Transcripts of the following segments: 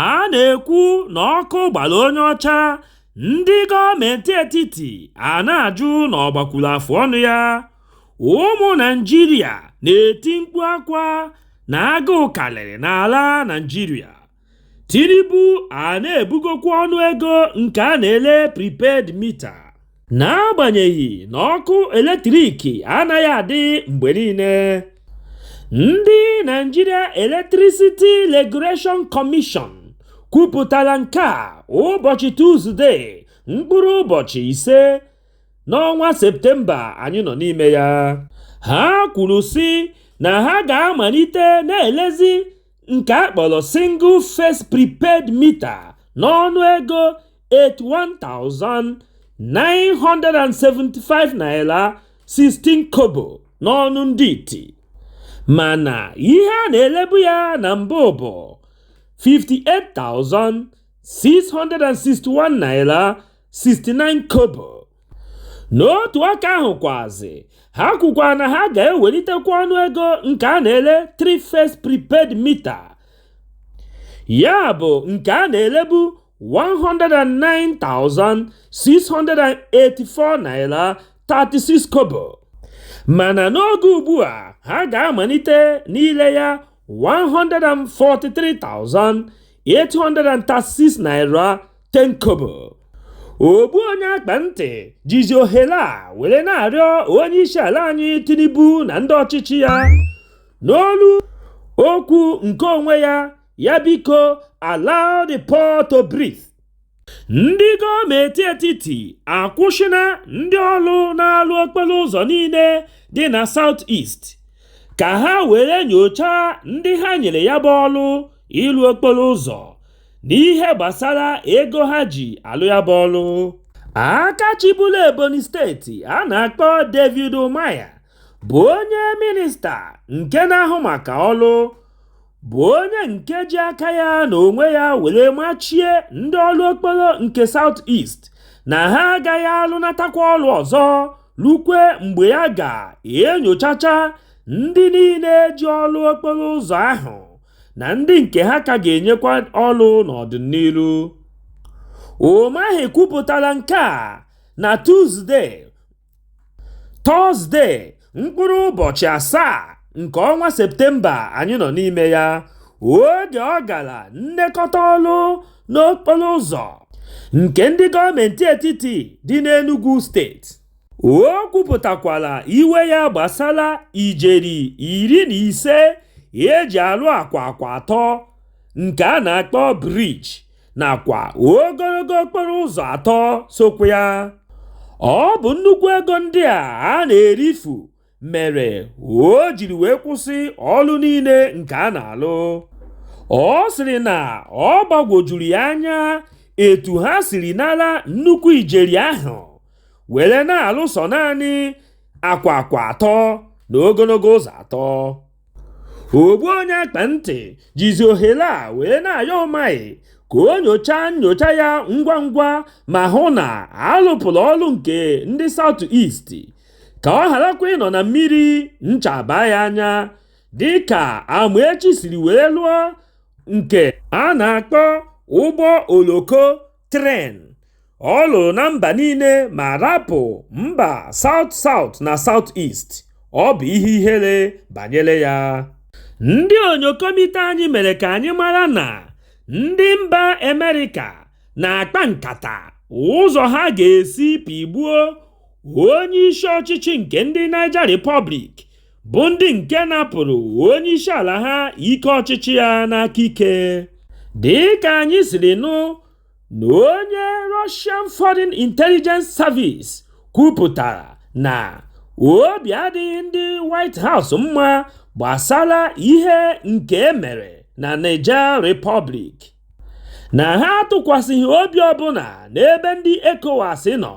a na-ekwu na ọkụ gbara onye ọcha ndị gọọmenti etiti a na-ajụ na ọ gbakwuru afụ ọnụ ya ụmụ naijiria na-eti mkpu akwa na agụụ karịrị n'ala naijiria tinubu a na-ebugokwa ọnụ ego nke a na-ele prepaid mita n'agbanyeghị na ọkụ eletrik anaghị adị mgbe niile ndị Nigeria Electricity Regulation Commission kwupụtara nke a ụbọchị Tuzdee mkpụrụ ụbọchị ise n'ọnwa Septemba anyị nọ n'ime ya ha kwuru sị na ha ga-amalite na-elezi nke a kpọrọ single phase prepaid mita n'ọnụ ego 81,975 naira 16 kobo n'ọnụ ndị iti mana ihe a na-elebu ya na mbụ bụ 58,661 naira 69 kobo. n'otu aka ahụ kwazị ha kwukwa na ha ga-ewelitekwa ọnụ ego nke a na-ele three phase prepaid mita ya bụ nke a na-elebu 109,684 naira 36 kobo mana n'oge ugbu a ha ga-amalite n'ile ya 143,836 naira 10 kobo ogbu onye akpa ntị jizi ohere a were na-arịọ onye isi ala anyị Tinubu na ndị ọchịchị ya n'olu okwu nke onwe ya ya biko allow the poor to breathe ndị gọọmenti etiti akwụsịna ndị ọrụ na-alụ okporo ụzọ niile dị na South East ka ha were nyochaa ndị ha nyere ya bụ ọrụ ịlụ okporo ụzọ n'ihe gbasara ego ha ji alụ ya bụ ọrụ aka chịburu Ebonyi steeti a na-akpọ David Umahi bụ onye minista nke na-ahụ maka ọrụ bụ onye nke ji aka ya na onwe ya were machie ndị ọrụ okporo nke South East na ha agaghị alụnatakwa ọrụ ọzọ rukwe mgbe ya ga-enyochacha ndị niile ji ọrụ okporo ụzọ ahụ na ndị nke ha ka ga-enyekwa ọrụ n'ọdịnihu. Umahi kwupụtara nke a na Tuzdee. tọzde mkpụrụ ụbọchị asaa nke ọnwa septemba anyị nọ n'ime ya oge ọ gara nlekọta ọrụ n'okporo ụzọ nke ndị gọọmenti etiti dị n'enugwu steeti o kwupụtakwara iwe ya gbasara ijeri iri na ise eji alụ akwa akwa atọ nke a na-akpọ briji nakwa ogologo okporo ụzọ atọ sokwa ya. Ọ bụ nnukwu ego ndị a a na-erifu mere o jiri wee kwụsị ọrụ niile nke a na-alụ. Ọ sịrị na ọ gbagwojuru ya anya etu ha siri nara nnukwu ijeri ahụ were na-alụ sọ naanị akwa akwa atọ na ogologo ụzọ atọ. ogbu onye akpa ntị jizi ohere a wee na-ayọ Umahi ka o nyochaa nyocha ya ngwa ngwa ma hụ na a lụpụrụ ọrụ nke ndị South East ka ọ gharakwa ịnọ na mmiri ncha baa ya anya dịka Amaechi siri wee lụọ nke a na-akpọ ụgbọ oloko tren ọ lụrụ na mba niile ma rapụ mba South South na South East ọ bụ ihe ihere banyere ya ndị onyokomite anyị mere ka anyị mara na ndị mba amerịka na-akpa nkata ụzọ ha ga-esi pịgbuo onye isi ọchịchị nke ndị Niger Republic bụ ndị nke napụrụ onye isi ala ha ike ọchịchị ya n'aka ike dị ka anyị siri nụ na onye Russian Foreign Intelligence Service kwupụtara na obi adịghị ndị White House mma gbasara ihe nke e mere na Niger Republic. na ha atụkwasịghị obi ọbụla n'ebe ndị ECOWAS nọ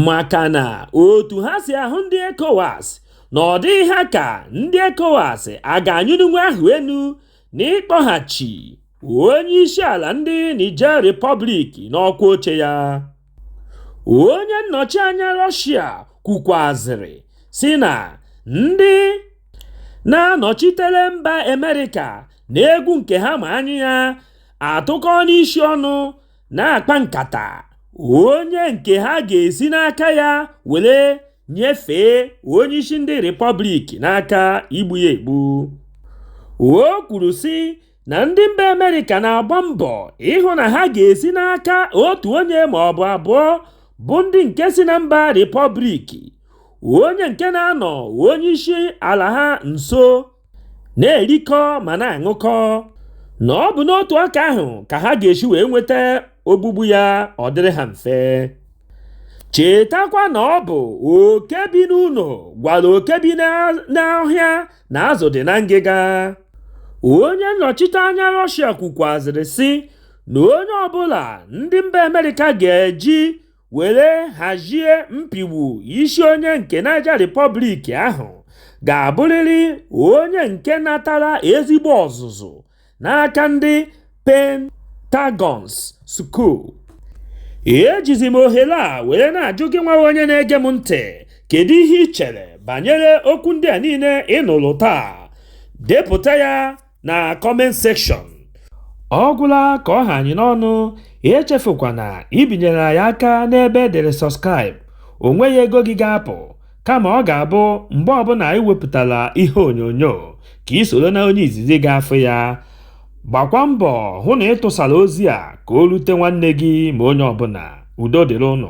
maka na otu ha si ahụ ndị ECOWAS na ọ dịghị ha ka ndị ECOWAS a ga-anyụninwu ahụ enu n'ịkpọghachi onye isi ala ndị Niger Republic n'ọkwa oche ya onye nnọchi anya Russia kwukwazịrị sị na ndị na-anọchitere mba Amerịka na egwu nke ha ma anya ya atụkọna isi ọnụ na-akpa nkata onye nke ha ga-esi n'aka ya were nyefee onye isi ndị Repọblik n'aka igbu ya egbu. O kwuru sị na ndị mba Amerịka na-agba mbọ ịhụ na ha ga-esi n'aka otu onye ma ọ bụ abụọ bụ ndị nke si na mba Repọblik onye nke na-anọ onye isi ala ha nso na-erikọ ma na-aṅụkọ na ọ bụ n'otu aka ahụ ka ha ga-esi wee nweta ogbugbu ya ọ dịrị ha mfe chetakwa na ọ bụ oke bi n'ụlọ gwara oke bi n'ọhịa na azụ dị na ngịga onye nnọchite anya rọshia kwukwazịrị sị na onye ọbụla ndị mba amerịka ga-eji were hazie mpigbu isi onye nke Niger Republic ahụ ga-abụrịrị onye nke natara ezigbo ọzụzụ n'aka ndị Pentagons School. Ejizi m ohere a were na-ajụ gị nwa onye na-ege m ntị kedu ihe i chere banyere okwu ndị a niile ị nụrụ taa? Depụta ya na comment section ọ gwụla ka ọ ha anyị n'ọnụ echefukwana ibinyere anyị aka n'ebe e dere subscribe o nweghị ego gị ga-apụ kama ọ ga-abụ mgbe ọbụla anyị wepụtara ihe onyonyo ka i soro na onye izizi ga-afụ ya gbakwa mbọ hụ na ị tụsara ozi a ka o rute nwanne gị ma onye ọbụla udo dịrị ụnụ